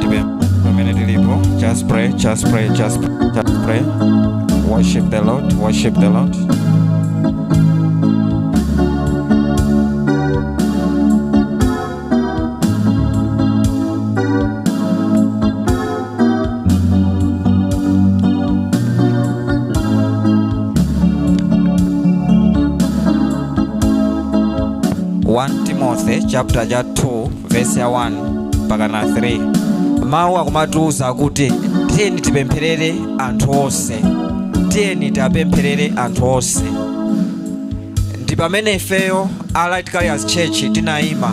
Tipe- pamene tilipo just pray just pray just, just pray worship the lord worship the lord 1 timothy chapter 2 verse ya 1 mpaka na 3 mawu akumatiuza kuti tiyeni tipempherere anthu onse tiyeni tipempherere anthu onse ndi pamene ifeyo a light carriers church tinayima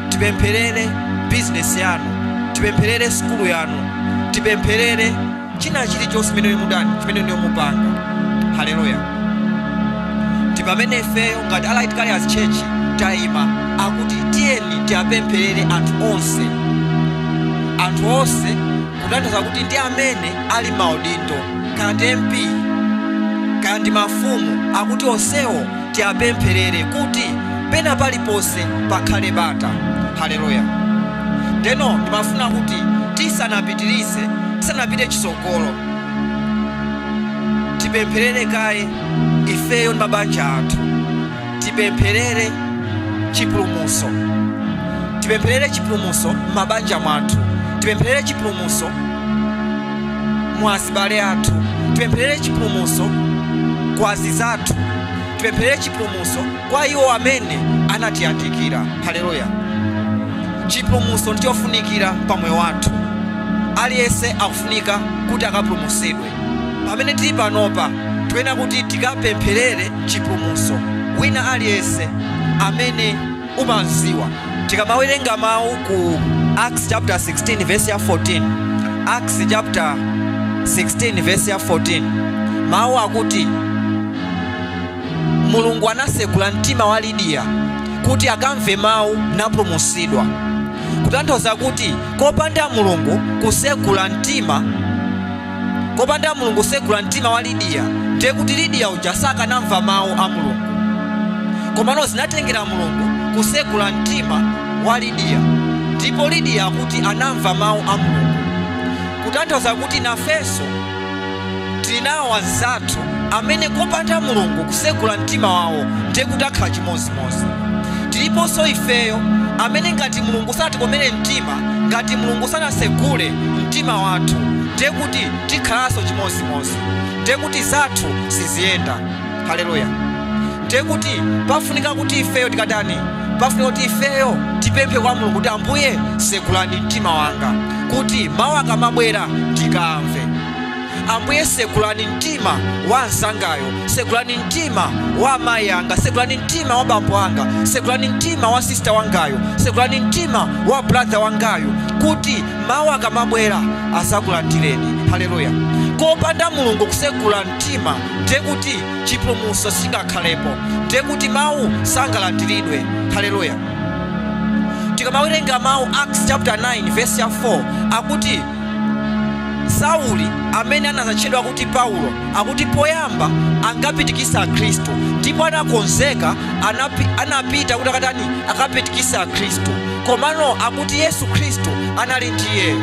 tipempherere bizinesi yanu tipempherere sukulu yanu tipempherere china chilichonse chimene inu mudani chimene inu mupanga haleluya ndi pamene ifeyo ngati a light carriers church tayima akuti tiyeni tiwapempherere anthu onse anthu onse kutanthauza kuti ndi amene ali maudindo kaya ndi mp kaya ndi mafumu akuti onsewo tiapempherere kuti pena paliponse pakhale bata haleluya ndeno ndimafuna kuti tisanapitirize tisanapite chitsogolo tipempherere kaye ifeyo ndi mabanja athu tipempherere chipulumuso tipempherere chipulumuso m'mabanja mwathu tipempherere chipulumuso mwa azibale athu tipempherere chipulumutso kwa anzizathu tipempherere chipulumutso kwa iwo amene anatiyandikira haleluya chipulumutso ndichofunikira pa moyo wathu aliyense akufunika kuti akapulumutsidwe pamene tili panopa tiyenera kuti tikapempherere chipulumutso wina aliyense amene umaziwa tikamawerenga mawu ku acts chapter 16 verse ya 14 acts chapter 16 verse ya 14 mawu akuti mulungu anasegula mtima wa lidiya kuti akamve mawu napulumutsidwa kutanthauza kuti kopanda mulungu kusegula mtima kopanda mulungu kusegula mtima wa lidiya ndiye kuti lidiya uja sakanamva mawu a mulungu komano zinatengera mulungu kusegula mtima wa lidiya ndipo lidiya akuti anamva mawu a mulungu kutanthauza kuti nafenso tili nawo anzathu amene kopanda mulungu kusegula mtima wawo ndiye kuti akhala chimodzimodzi tiliponso ifeyo amene ngati mulungu sanatikomere mtima ngati mulungu sanasegule mtima wathu ndiye kuti tikhalanso chimodzimodzi ndiye kuti zathu siziyenda haleluya ndiye kuti pafunika kuti ifeyo tikatani pafunika kuti ifeyo tipemphe kwa mulungu kuti ambuye segulani mtima wanga kuti mawu akamabwera ndikamve ambuye segulani mtima wa anzangayo segulani mtima wa amayi anga segulani mtima wa bambo anga segulani mtima wa sista wangayu segulani mtima wa brother wangayu kuti mawu akamabwera azakulandireni haleluya kopanda mulungu kusegula mtima ndiye kuti chipulumutso singakhalepo ndiye kuti mawu sangalandiridwe haleluya tikamawerenga mawu acts chapter 9 verse ya 4 akuti sauli amene anazatchedwa kuti paulo akuti poyamba ankapitikisa akhristu ndipo anakonzeka anapi, anapita kuti akatani akapitikisa akhristu komano akuti yesu khristu anali ndi iyeyo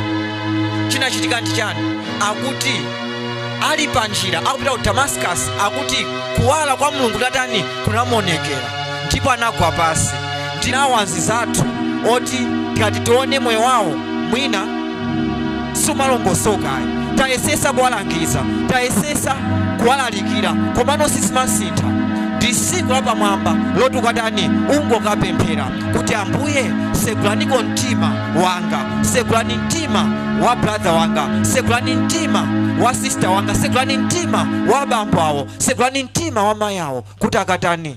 chinachitika ndi chani akuti ali pa njira akupita ku damascus akuti kuwala kwa mulungu kunatani kunamuonekera ndipo anagwa pasi tinawo anzizathu oti tikati tione moyo wawo mwina sumalongosoka ayi tayesesa kuwalangiza tayesesa kuwalalikira komano sizimasintha ndi siku lapamwamba loti ukatani ungokapemphera kuti ambuye segulaniko mtima wanga segulani mtima wa brother wanga segulani mtima wa sister wanga segulani mtima wa bambo awo segulani mtima wa mayi awo kuti akatani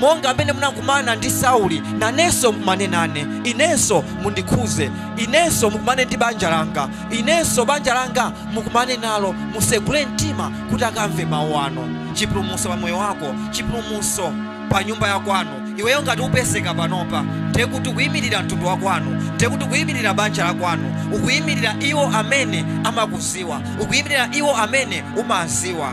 monga amene munakumana ndi Sauli, nanenso mukumane nane, inenso mundikhuze, inenso mukumane ndi banja langa, inenso banja langa mukumane nalo, musegule mtima kuti akamve mawu anu. Chipulumutso pa moyo wako, chipulumutso pa nyumba ya kwanu. Iweyo ngati upezeka panopa, ndiye kuti ukuyimirira mtundu wa kwanu, ndiye kuti ukuyimirira banja la kwanu, ukuyimirira iwo amene amakuziwa, ukuyimirira iwo amene umaziwa.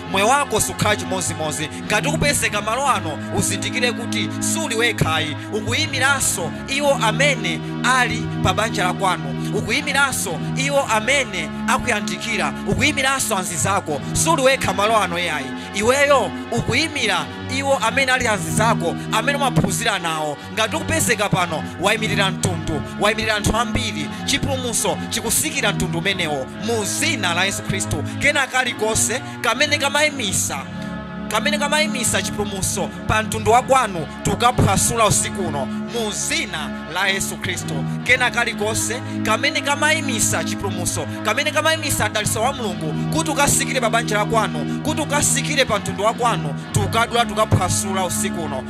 moyo wako sukhala chimozimozi ngati ukupezeka malo ano uzindikire kuti suli wekhayi ukuyimiranso iwo amene ali pa banja la kwanu ukuyimiranso iwo amene akuyandikira ukuyimiranso anzi zako suli wekha malo ano iyayi iweyo ukuyimira iwo amene ali anzi zako amene umaphunzira nawo ngati ukupezeka pano wayimirira mtundu wayimirira anthu ambiri chipulumutso chikusikira mtundu umenewo mu zina la yesu khristu kena kalikonse kamene kamayimisa kamene kamayimisa chipulumutso pa mtundu wa kwanu tukaphwasula usiku uno mu zina la yesu khristu kena kalikonse kamene kamayimisa chipulumutso kamene kamayimisa mdalitso wa mulungu kuti ukasikire pa banja la kwanu kuti ukasikire pa mtundu wa kwanu tukadula tukaphwasula usiku uno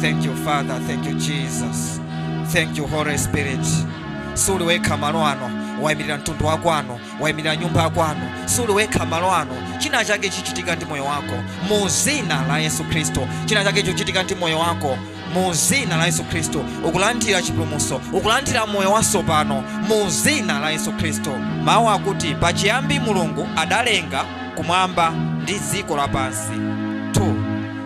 thank you father thank you jesus thank you holy spirit suli wekha malo ano wayimirira mtundu wa kwanu wayimirira nyumba ya kwanu suli wekha malo ano china chake chichitika ndi moyo wako mu zina la yesu khristu china chake chichitika ndi moyo wako mu zina la yesu khristu ukulandira chipulumutso ukulandira moyo watsopano mu zina la yesu khristu mawu akuti pachiyambi mulungu adalenga kumwamba ndi dziko lapansi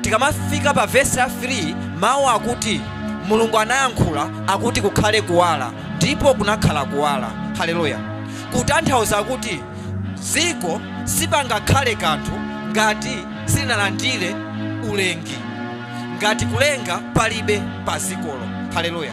Tikamafika pa vesi la 3, mawu akuti Mulungu anayankhula akuti kukhale kuwala, ndipo kunakhala kuwala. Haleluya! Kutanthauza kuti dziko sipangakhale kanthu ngati silinalandire ulengi, ngati kulenga palibe padzikolo. Haleluya!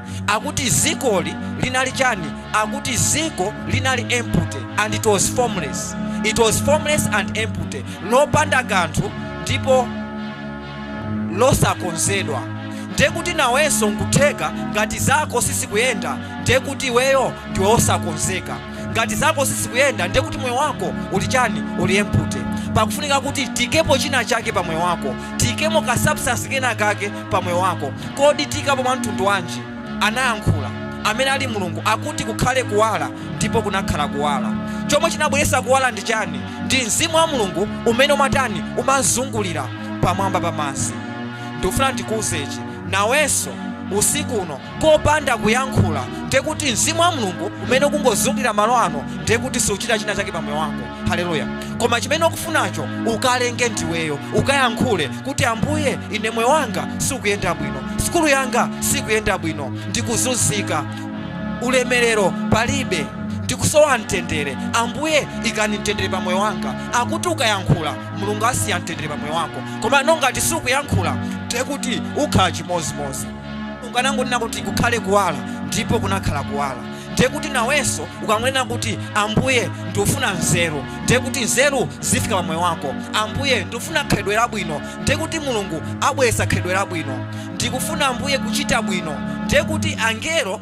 akuti zikoli linali chani akuti ziko linali empty and it was formless it was formless and empty lopanda kanthu ndipo losakonzedwa ndekuti nawenso nkutheka ngati zako sizikuyenda ndekuti iweyo ndiwe osakonzeka ngati zako sizikuyenda ndiye kuti moyo wako uli chani uli empty pakufunika kuti tikepo china chake pa moyo wako tikemo ka substance kena kake pa moyo wako kodi tikapo mwa mtundu wanji anayankhula amene ali mulungu akuti kukhale kuwala ndipo kunakhala kuwala chomwe chinabweretsa kuwala ndi chani ndi mzimu wa mulungu umene umatani umazungulira pamwamba pa madzi ndikufuna ndikuuzechi nawenso usiku uno kopanda kuyankhula ndiye kuti mzimu wa mulungu umene ukungozungulira malo ano ndiye kuti siuchita china chake pa moyo wako haleluya koma chimene ukufunacho ukalenge ndiweyo ukayankhule kuti ambuye ine moyo wanga sukuyenda bwino sukulu yanga sikuyenda bwino ndikuzunzika ulemerero palibe ndikusowa mtendere ambuye ikani mtendere pa moyo wanga akuti ukayankhula mulungu asiya mtendere pa moyo wako koma nongati sukuyankhula ndiye kuti ukhala chimozimozi mongaanangonena kuti kukhale kuwala ndipo kunakhala kuwala ndiye kuti nawenso ukangonena kuti ambuye ndikufuna nzeru ndiye kuti nzeru zifika pa moyo wako ambuye ndikufuna khalidwe labwino ndiye kuti mulungu abweretsa khalidwe labwino ndikufuna ambuye kuchita bwino ndiye kuti angelo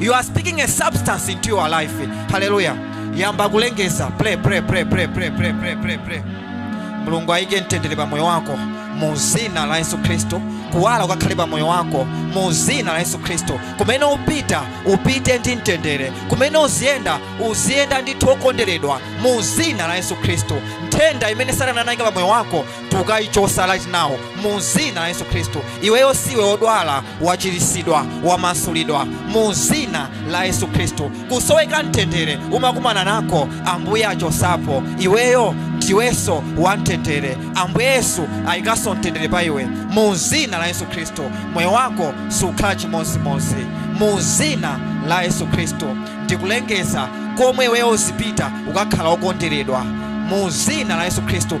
you are speaking a substance into your life haleluya yamba kulengeza pray pray pray pray pray pray pray pray pray mulungu ayike mtendere pa moyo wako mu zina la yesu khristu kuwala kukakhale pa moyo wako mu zina la yesu khristu kumene upita upite ndi mtendere kumene uziyenda uziyenda ndithu okonderedwa mu zina la yesu khristu nthenda imene satana anayika pa moyo wako tukayichosa right now mu zina la yesu khristu iweyo siwe wodwala wachirisidwa wamasulidwa mu zina la yesu khristu kusoweka mtendere umakumana nako ambuye achosapo iweyo ndiwenso wa mtendere ambuye yesu ayikanso mtendere pa iwe mu zina la yesu khristu moyo wako sukhala chimozimozi mu zina la yesu khristu ndikulengeza komwe iweyo uzipita ukakhala okonderedwa mu zina la yesu khristu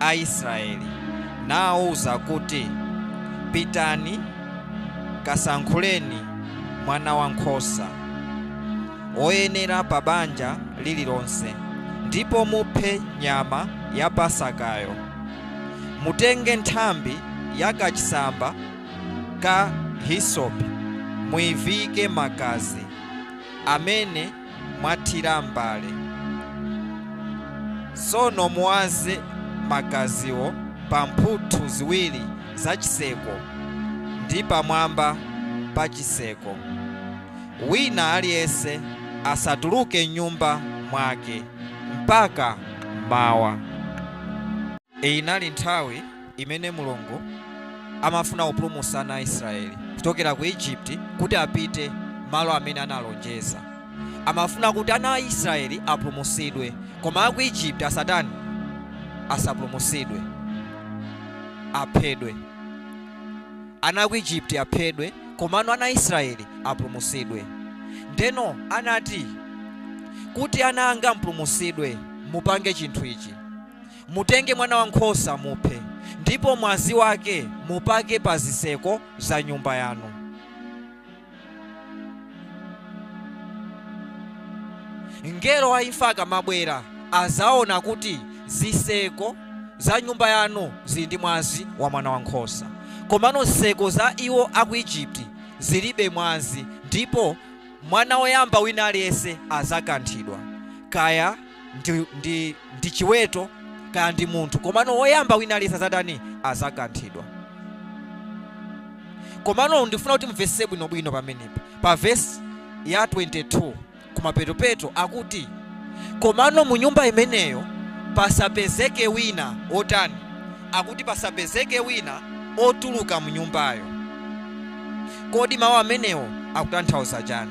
a Israeli, nawauza kuti, Pitani kasankhuleni mwanawankhosa woyenera pa banja lililonse, ndipo muphe nyama ya pasakayo. Mutenge nthambi ya kachisamba ka hisope, muiviike m'magazi amene mwathira m'mbale. Tsono muwaze magaziwo pa mphuthu ziwiri za chitseko ndi pamwamba pa chitseko. Wina aliyense asatuluke m'nyumba mwake mpaka mmawa. Inali nthawi imene Mulungu amafuna kupulumutsa ana a Israeli kuchokera ku Egypt kuti apite malo amene analonjeza. Amafuna kuti ana a Israeli apulumutsidwe, koma a ku Egypt asatani? Asapulumutsidwe, aphedwe. Ana a ku Egypt aphedwe, komano ana a Israeli apulumutsidwe. Ndeno anati, Kuti ana anga mupulumutsidwe, mupange chinthu ichi. Mutenge mwanawankhosa, muphe, ndipo mwazi wake mupake pa zitseko za nyumba yanu. Mngelo wa imfa akamabwera, adzaona kuti zitseko za nyumba yanu zili ndi mwazi wa mwanawankhosa, komano zitseko za iwo a ku Ijipiti zilibe mwazi, ndipo mwana woyamba wina aliyense adzakanthidwa. Kaya ndi, ndi, ndi chiweto kaya ndi munthu komano woyamba wina aliyense azatani azakanthidwa komano ndifuna kuti mumvese bwinobwino pamenepa pa vesi ya 22 kumapetopeto akuti komano mu nyumba imeneyo pasapezeke wina otani akuti pasapezeke wina otuluka mu nyumbayo kodi mawu amenewo akutanthauza chani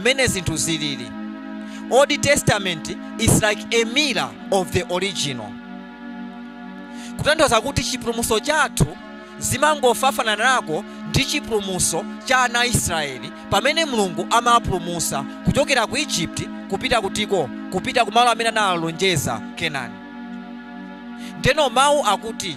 mmene zinthu zilili old testament is like a mirror of the original kutanthauza kuti chipulumutso chathu chimangofanana nako ndi chipulumutso cha ana a israeli pamene mulungu amapulumutsa kuchokera ku egypt kupita kutiko kupita kumalo amene analonjeza Kenani ndeno mawu akuti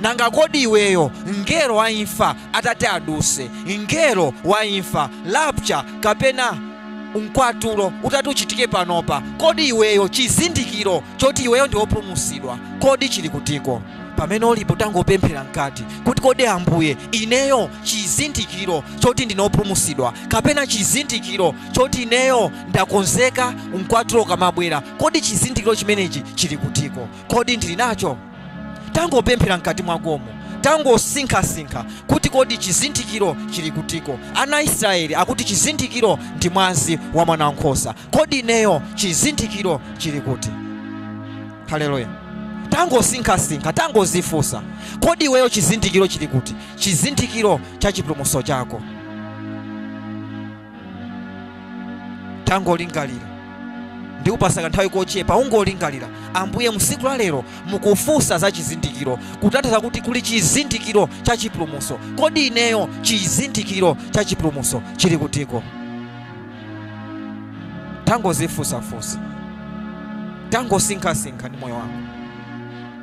Nanga kodi iweyo mngelo wa imfa atati aduse, mngelo wa imfa, rapture, kapena Mkwatulo utati uchitike panopa, kodi iweyo chizindikiro choti iweyo ndi wopulumutsidwa kodi chili kutiko? Pamene ulipo tangopemphera mkati kuti kodi Ambuye ineyo chizindikiro choti ndine opulumutsidwa kapena chizindikiro choti ineyo ndakonzeka Mkwatulo ukamabwera kodi chizindikiro chimenechi chili kutiko? kodi ndili nacho tangopemphera mkati mwakomo tangosinkhasinkha kuti kodi chizindikiro chili kutiko ana a israeli akuti chizindikiro ndi mwazi wa mwana wankhosa kodi ineyo chizindikiro chili kuti haleluya tangosinkhasinkha tangozifunsa kodi iweyo chizindikiro chili kuti chizindikiro cha chipulumutso chako tangolingalira ndikupasa kanthawi kochepa ungolingalira ambuye mu usiku la lero mukufunsa za chizindikiro kutanthauza kuti kuli chizindikiro cha chipulumuso kodi ineyo chizindikiro cha chipulumuso chili kutiko tangozifunsafunsa tangosinkhasinkha ndi moyo wako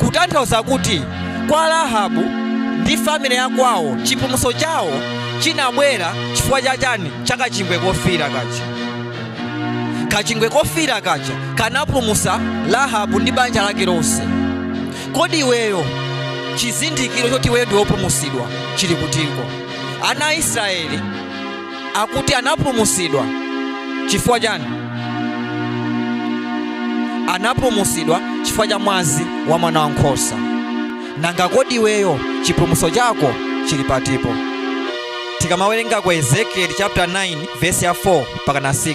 kutanthauza kuti kwa Rahabu ndi family ya kwawo chipulumutso chawo chinabwera chifukwa cha chani cha kachingwe kofiira kaja kachingwe kofiira kaja kanapulumutsa Rahabu ndi banja lake lonse kodi iweyo chizindikiro choti iweyo ndi wopulumutsidwa chili kutiko ana a Israeli akuti anapulumutsidwa chifukwa chani anapulumutsidwa chifukwa cha mwazi wa mwana wa nkhosa nanga kodi iweyo chipulumutso chako chili patipo tikamawerenga ku ezekieli chapter 9 verse ya 4 mpaka na 6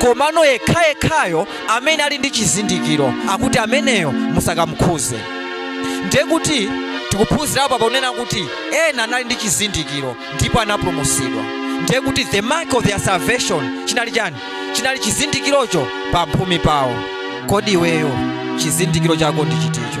komano yekhayekhayo amene ali ndi chizindikiro akuti ameneyo musakamukhuze ndiye kuti tikuphunzira apa pakunena kuti ena anali ndi chizindikiro ndipo anapulumutsidwa ndiye kuti the mark of their salvation chinali chani chinali chizindikirocho pa mphumi pawo kodi iweyo chizindikiro chako ndi chiticho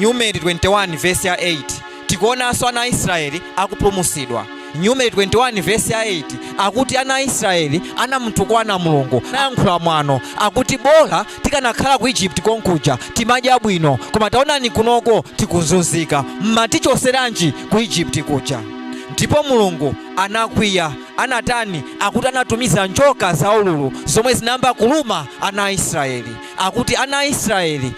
numeri 21 vesi ya 8 tikuonanso ana a israeli akupulumusidwa numeri 21 vesi ya 8 akuti ana a israeli anamutukwana mulungu nayankhula mwano akuti bola tikanakhala ku egypt konkuja timadya bwino koma taonani kunoko tikunzunzika mumatichoseranji ku egypt kuja ndipo mulungu anakwiya anatani akuti anatumiza njoka zaululu zomwe zinayamba kuluma ana a israeli akuti ana a israeli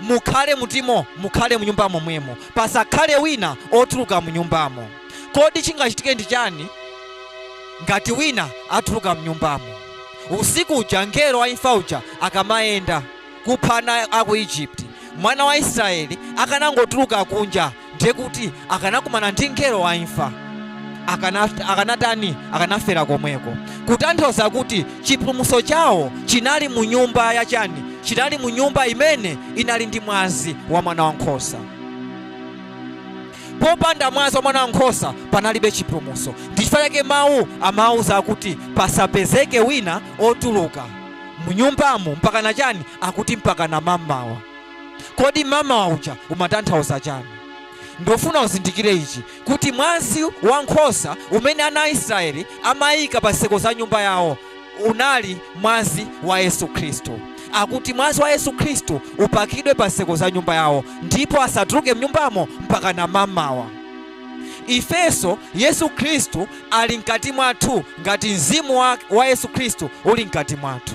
Mukhale mutimo, mukhale mu nyumbamo mwemo, pasakhale wina otuluka mu nyumbamo. Kodi chingachitike ndi chani ngati wina atuluka mu nyumbamo? Usiku uja mngelo wa imfa uja akamayenda kupha ana a ku Egypt, mwana wa Israeli akanangotuluka kunja, ndiye kuti akanakumana ndi mngelo wa imfa akanatani akanafera komweko kutanthauza kuti chipulumutso chawo chinali mu nyumba ya chani chinali mu nyumba imene inali ndi mwazi wa mwana wa nkhosa popanda mwazi wa mwana wa nkhosa panalibe chipulumutso ndichifukwa chake mawu amawuza akuti pasapezeke wina otuluka mu nyumbamo mpakana chani akuti mpakana mamawa kodi mamawa uja umatanthauza chani ndofuna uzindikire ichi kuti mwazi wa nkhosa umene ana a israeli amayika pa zitseko za nyumba yawo unali mwazi wa yesu khristu akuti mwazi wa yesu khristu upakidwe pa zitseko za nyumba yawo ndipo asatuluke mnyumbamo mpaka na mamawa ifenso yesu khristu ali mkati mwathu ngati mzimu wa yesu khristu uli mkati mwathu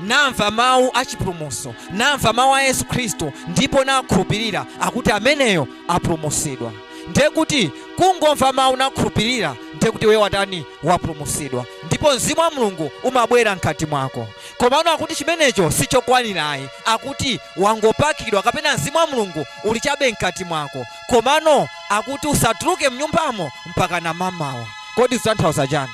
namva mawu a chipulumutso namva mawu a yesu khristu ndipo nakhulupirira akuti ameneyo apulumutsidwa ndiye kuti kungomva mawu nakhulupirira ndiye kuti iwe watani wapulumutsidwa ndipo mzimu wa mulungu umabwera mkati mwako komano akuti chimenecho sichokwanirayi akuti wangopakidwa kapena mzimu wa mulungu uli chabe mkati mwako komano akuti usatuluke mnyumbamo mpaka na mamawa kodi zitanthauza chani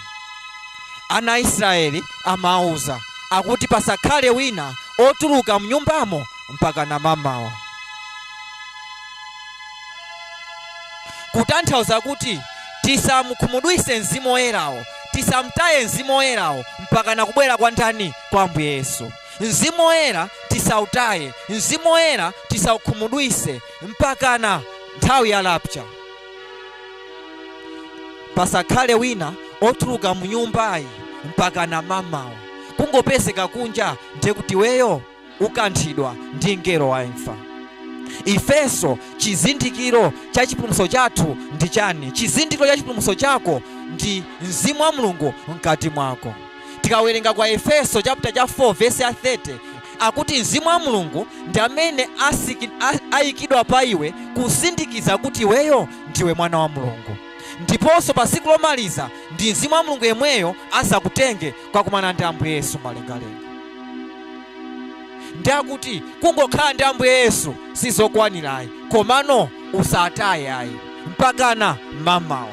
Ana a Israeli amawauza akuti pasakhale wina otuluka mnyumbamo mpakana mamawa. Kutanthauza kuti tisamukhumudwise Mzimu Woyerawo, tisamtaye Mzimu Woyerawo mpakana kubwera kwa ndani? Kwa Ambuye Yesu. Mzimu Woyera tisautaye, Mzimu Woyera tisaukhumudwise mpakana nthawi ya rapture. pasakhale wina otuluka mu nyumbayi mpaka na mamawa kungopezeka kunja ndiye kuti weyo ukanthidwa ndi mngelo wa imfa ifenso chizindikiro cha chipulumutso chathu ndi chani chizindikiro cha chipulumutso chako ndi mzimu wa mulungu mkati mwako tikawerenga kwa efeso chapter cha 4 vesi ya 30 akuti Mzimu wa Mulungu ndi amene ayikidwa pa iwe kusindikiza kuti iweyo ndiwe mwana wa Mulungu. Ndiponso pa tsiku lomaliza ndi Mzimu wa Mulungu yemweyo azakutenge kwakumana ndi Ambuye Yesu malengalenga. Ndi akuti kungokhala ndi Ambuye Yesu sizokwanirayi, komano usataye ayi mpakana mamawa.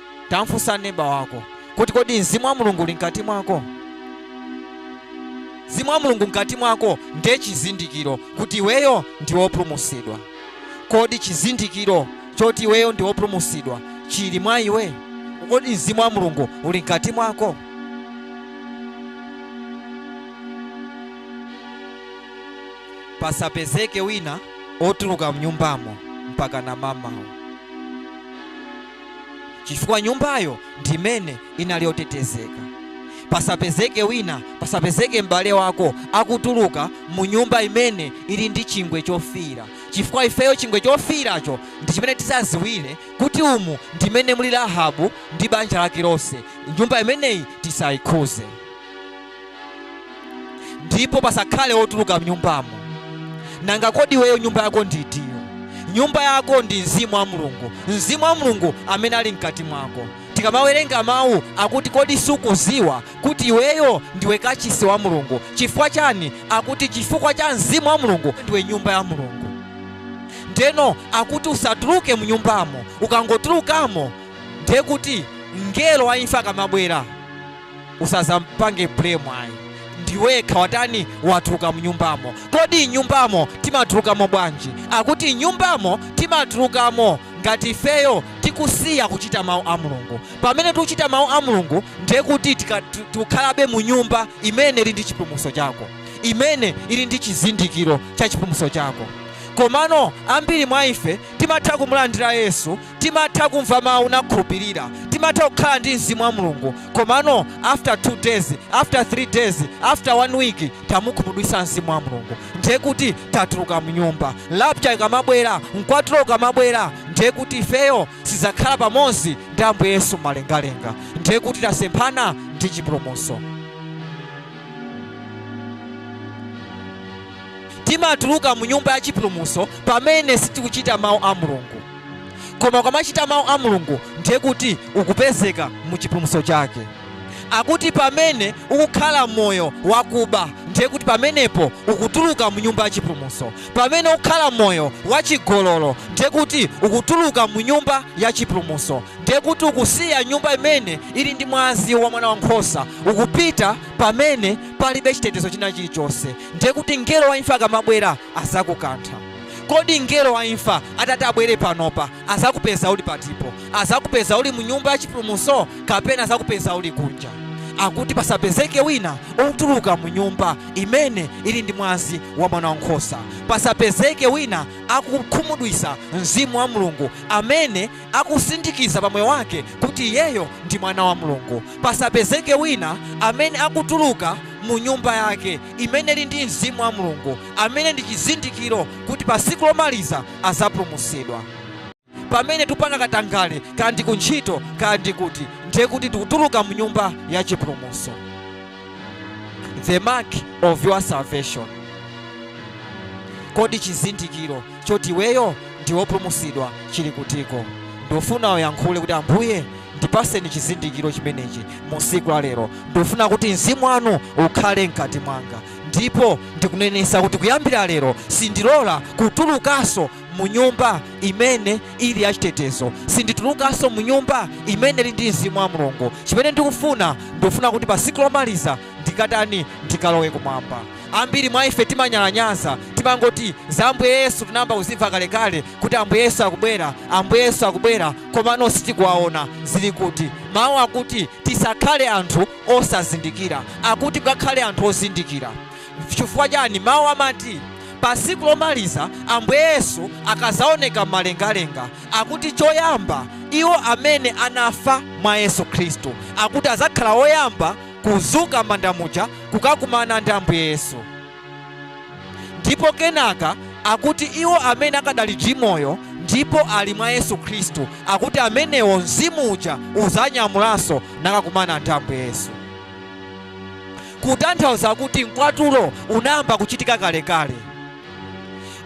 Tamfunsa neba wako kuti kodi mzimu wa mulungu uli mkati mwako? Mzimu wa mulungu mkati mwako ndiye chizindikiro kuti iweyo ndi wopulumutsidwa. Kodi chizindikiro choti iweyo ndi wopulumutsidwa chili mwa iwe? Kodi mzimu wa mulungu uli mkati mwako? Pasapezeke wina otuluka mnyumbamo mpakana mamawa. chifukwa nyumbayo ndi imene inali yotetezeka pasapezeke wina pasapezeke m'bale wako akutuluka mu nyumba imene ili ndi chingwe chofiira chifukwa ifeyo chingwe chofiiracho ndi chimene tizaziwire kuti umu ndi mmene muli rahabu ndi banja lake lonse nyumba imeneyi tisayikhuze ndipo pasakhale wotuluka mnyumbamo. Nanga kodi iweyo nyumba yako ndi itiyo? Nyumba yako ndi mzimu wa Mulungu, mzimu wa Mulungu amene ali mkati mwako. Tikamawerenga mawu akuti kodi sukuziwa kuti iweyo ndiwe kachisi wa Mulungu? Chifukwa chani? Akuti chifukwa cha mzimu wa Mulungu ndiwe nyumba ya Mulungu. Ndeno akuti usatuluke mnyumbamo, ukangotulukamo ndiye kuti mngelo wa imfa akamabwera usazampange blame ayi ndiwekha watani, watuluka mnyumbamo kodi nyumbamo timatulukamo bwanji akuti nyumbamo timatulukamo ngati ifeyo tikusiya kuchita mawu a mulungu pamene tikuchita mawu a mulungu ndiye kuti tika- tu- tikukhalabe mu nyumba imene ili ndi chipulumutso chako imene ili ndi chizindikiro cha chipulumutso chako komano ambiri mwa ife timatha kumulandira yesu timatha kumva mawu nakhulupirira timatha kukhala ndi mzimu wa mulungu komano after two days after three days after one week tamukhumudwisa mzimu wa mulungu ndiye kuti tatuluka mnyumba rapture ikamabwera mkwatulo ukamabwera ndiye kuti ifeyo sizakhala pamodzi ndi ambuye yesu mumalengalenga ndiye kuti tasemphana ndi chipulumutso timatuluka mu nyumba ya chipulumutso pamene sitikuchita mawu a mulungu koma ukamachita mawu a mulungu ndiye kuti ukupezeka mu chipulumutso chake akuti pamene ukukhala moyo wakuba ndiye kuti pamenepo ukutuluka mu nyumba ya chipulumutso pamene ukukhala moyo wachigololo ndiye kuti ukutuluka mu nyumba ya chipulumutso ndiye kuti ukusiya nyumba imene ili ndi mwazi wa mwana wankhosa ukupita pamene palibe chitetezo china chilichonse ndiye kuti mngelo wa imfa akamabwera azakukantha Kodi mngelo wa imfa atati abwere panopa, azakupeza uli patipo? Azakupeza uli mu Nyumba ya Chipulumutso kapena azakupeza uli kunja? Akuti pasapezeke wina otuluka mu nyumba imene ili ndi mwazi wa Mwana wa Nkhosa. Pasapezeke wina akukhumudwisa Mzimu wa Mulungu amene akusindikiza pa moyo wake kuti iyeyo ndi mwana wa Mulungu. Pasapezeke wina amene akutuluka mu nyumba yake imene ili ndi Mzimu wa Mulungu. amene ndi chizindikiro kuti pa siku lomaliza azapulumusidwa. Pamene tupanga katangale kandi ku ntchito kandi kuti ndiye kuti tikutuluka mu nyumba ya chipulumuso. The mark of your salvation. Kodi chizindikiro choti iweyo ndi wopulumusidwa chili kutiko? Ndofuna uyankhule kuti Ambuye ndipaseni chizindikiro chimenechi mu siku la lero. Ndofuna kuti mzimu wanu ukhale mkati mwanga. Ndipo ndikunenesa kuti kuyambira lero sindilola kutulukaso munyumba imene ili yachitetezo. Sinditulukaso munyumba imene ili ndi mzimu wa Mulungu. Chimene ndikufuna, ndikufuna kuti pa siku lomaliza ndikatani? Ndikalowe kumwamba. Ambiri mwa ife timanyalanyaza, timangoti za Ambuye Yesu tinayamba kuzimva kalekale kuti Ambuye Yesu akubwera, Ambuye Yesu akubwera, komano sitikuwaona. Zili kuti? Mawu akuti tisakhale anthu osazindikira akuti mukhale anthu ozindikira. Chifukwa chani? Mawu amati pa siku lomaliza Ambuye Yesu akazaoneka m'malengalenga akuti choyamba iwo amene anafa mwa Yesu Khristu akuti azakhala oyamba kuzuka m'manda muja kukakumana ndi Ambuye Yesu. ndipo kenaka akuti iwo amene akadali ndi moyo ndipo ali mwa yesu khristu akuti amenewo mzimu uja uzanyamulanso nakakumana ndi ambuye yesu kutanthauza kuti mkwatulo unayamba kuchitika kalekale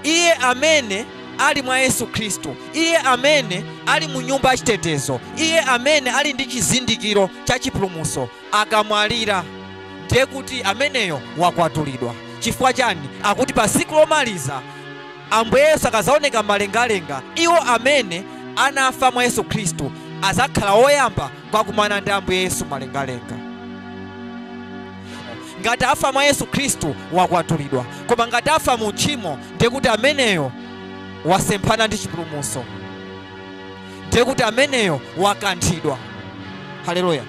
iye amene ali mwa yesu khristu iye amene ali mu nyumba yachitetezo iye amene ali ndi chizindikiro cha chipulumuso akamwalira ndiye kuti ameneyo wakwatulidwa. Chifukwa chani? Akuti pa tsiku lomaliza Ambuye Yesu akadzaoneka m'malengalenga, iwo amene anafa mwa Yesu Khristu adzakhala woyamba kukumana ndi Ambuye Yesu m'malengalenga. Ngati afa mwa Yesu Khristu wakwatulidwa, koma ngati afa mu tchimo ndiye kuti ameneyo wasemphana ndi chipulumutso, ndiye kuti ameneyo wakanthidwa. Haleluya.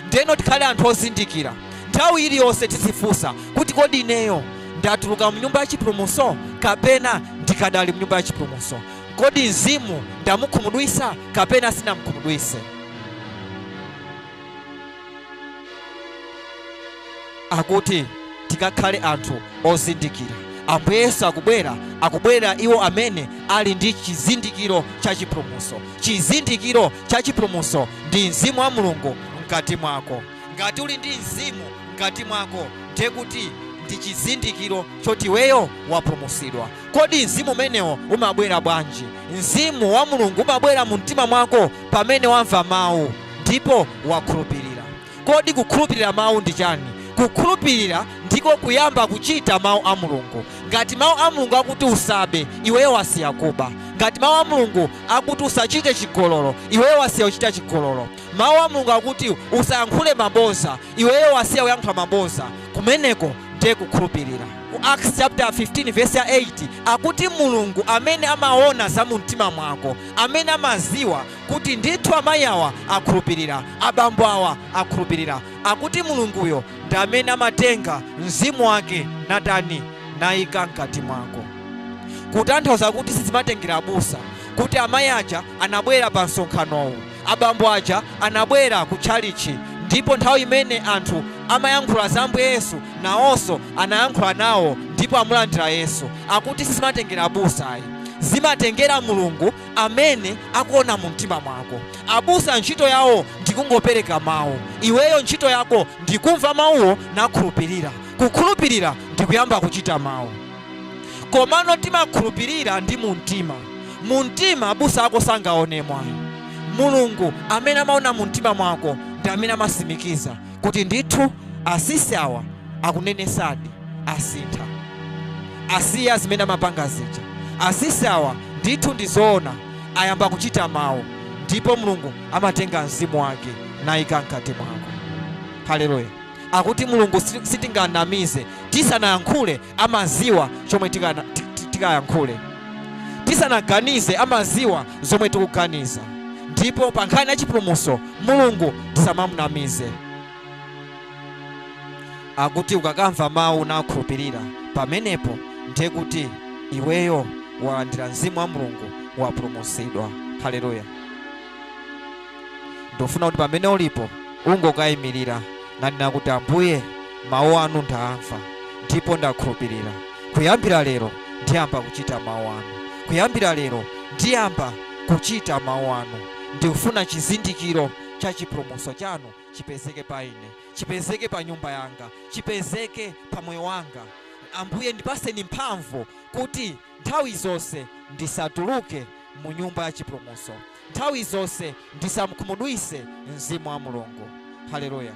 ndeno tikhale anthu ozindikira nthawi iliyonse tizifunsa kuti kodi ineyo ndatuluka mu nyumba ya chipulumuso kapena ndikadali mu nyumba ya chipulumuso kodi mzimu ndamukhumudwisa kapena sinamukhumudwise akuti tikakhale anthu ozindikira. Ambuye Yesu akubwera, akubwerera iwo amene ali ndi chizindikiro cha chipulumutso. Chizindikiro cha chipulumutso ndi Mzimu wa Mulungu mkati mwako. Ngati uli ndi Mzimu mkati mwako, ndiye kuti ndi chizindikiro choti iweyo wapulumutsidwa. Kodi mzimu umenewo umabwera bwanji? Mzimu wa Mulungu umabwera mu mtima mwako pamene wamva mawu ndipo wakhulupirira. Kodi kukhulupirira Mawu ndi chani? Kukhulupirira ndiko kuyamba kuchita Mawu a Mulungu. Ngati Mawu a Mulungu akuti usabe, iweyo wasiya kuba. Ngati Mawu a Mulungu akuti usachite chigololo, iweyo wasiya kuchita chigololo. Mawu a Mulungu akuti usayankhule maboza, iweyo wasiya kuyankhula maboza. Kumeneko ndiye kukhulupirira. Acts chapter 15 verse 8 akuti Mulungu amene amaona za mumtima mwako, amene amaziwa kuti ndithu amayi awa akhulupirira, abambo awa akhulupirira, akuti Mulunguyo ndi amene amatenga mzimu wake natani, nayika mkati mwako. Kutanthauza kuti sizimatengera abusa, kuti amayi aja anabwera pa msonkhanowu, abambo aja anabwera ku tchalitchi, ndipo nthawi imene anthu amayankhula za Ambuye Yesu nawonso anayankhula nawo ndipo amulandira Yesu. Akuti sizimatengera abusa ayi, zimatengera Mulungu amene akuona mu mtima mwako. Abusa ntchito yawo ndikungopereka mawu, iweyo ntchito yako ndikumva mawuwo nakhulupirira. Kukhulupirira ndikuyamba kuchita mawu. Komano timakhulupirira ndi mu mtima. Mu mtima abusa ako sangaonemo ayi. Mulungu amene amaona mu mtima mwako ndi amene amasimikiza. kuti ndithu asisi awa akunenesadi asintha asiya zimene amapanga zija asisi awa ndithu ndi zoona ayamba kuchita mawu ndipo mulungu amatenga mzimu wake nayika mkati mwako haleluya akuti mulungu si- sitinganamize tisanayankhule amaziwa chomwe tikayankhule tisanaganize amaziwa zomwe tikuganiza ndipo pa nkhani ya chipulumuso mulungu tisamamunamize akuti ukakamva mawu nakhulupirira pamenepo ndiye kuti iweyo walandira mzimu wa mulungu wapulumusidwa haleluya ndikufuna kuti pamene ulipo ungokayimirira nanena kuti ambuye mawu anu ndaamva ndipo ndakhulupirira kuyambira lero ndiyamba kuchita mawu anu kuyambira lero ndiyamba kuchita mawu anu ndikufuna chizindikiro cha chipulumutso chanu chipezeke pa ine chipezeke pa nyumba yanga chipezeke pa moyo wanga ambuye ndipaseni mphamvu kuti nthawi zonse ndisatuluke mu nyumba ya chipulumutso, nthawi zonse ndisamukhumudwitse Mzimu wa Mulungu. Haleluya!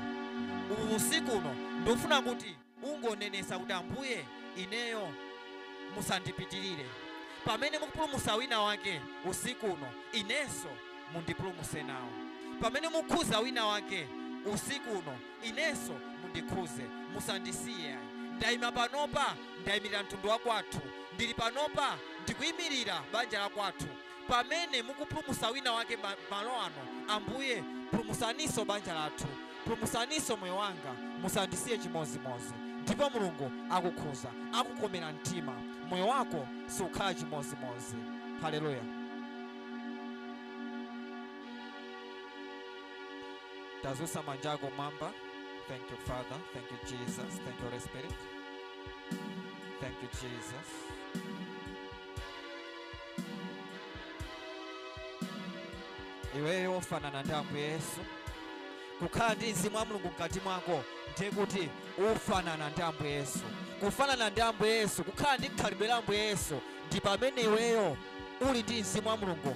Usiku uno ndikufuna kuti ungonenetsa kuti, Ambuye, ineyo musandipitirire. Pamene mukupulumutsa wina wake usiku uno, inenso mundipulumutse nawo. Pamene mukhuza wina wake usiku uno. Inenso mundikhuze, musandisiye. Ndaima panopa, ndaimirira mtundu wa kwathu. Ndili panopa, ndikuimirira banja la kwathu. Pamene mukupulumutsa wina wake malo ano, Ambuye, pulumutsaninso banja lathu. Pulumutsaninso moyo wanga, musandisiye chimozimozi. Ndipo Mulungu akukhuza, akukomera mtima. Moyo wako sukhala chimozimozi. Haleluya. tazusa manja ako mwamba thank you father thank you jesus thank you holy spirit thank you jesus iweyo ufanana ndi ambuye yesu kukhala ndi mzimu wa mulungu mkati mwako ndiye kuti ufanana ndi ambuye yesu kufanana ndi ambuye yesu kukhala ndi khalidwe la ambuye yesu ndi pamene iweyo uli ndi mzimu wa mulungu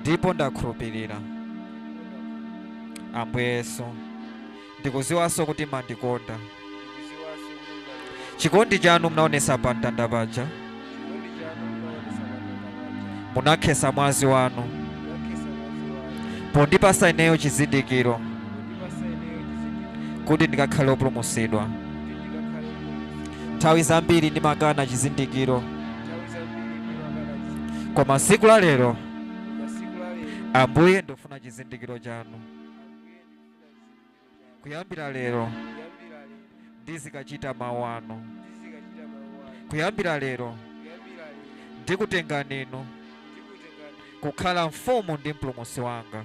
ndipo ndakhulupirira ambuye yesu ndikuziwanso kuti mandikonda chikondi chanu munaonesa pa mtanda paja munakhesa mwazi wanu pondipasa ineyo chizindikiro kuti ndikakhale opulumusidwa nthawi zambiri ndimakana chizindikiro nthawi zambiri ndimakana chizindikiro koma tsiku la lero koma siku la lero ambuye ndofuna chizindikiro chanu ambuye ndifuna chizindikiro chanu kuyambira lero kuyambira lero ndizikachita mawu anu ndizikachita mawu anu kuyambira lero kuyambira lero ndikutengani inu ndikutengani kukhala mfumu ndi mpulumutsi wanga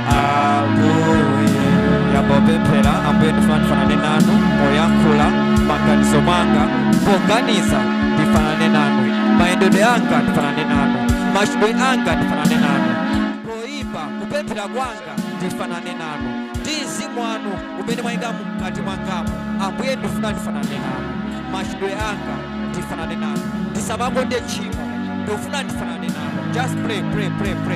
ambuye yambopemphera ambuye ndifuna ndifanane nanu poyankhula maganizo mwanga poganiza ndifanane nanu mayendedwe anga ndifanane nanu machitidwe anga ndifanane nanu poyimba kupemphera kwanga ndifanane nanu ndi mzimu wanu umene mwayika mkati mwangamu ambuye ndifuna ndifanane nanu machitidwe anga ndifanane nanu ndisamakonde tchimo ndifuna ndifanane nanu just pray pray pray pray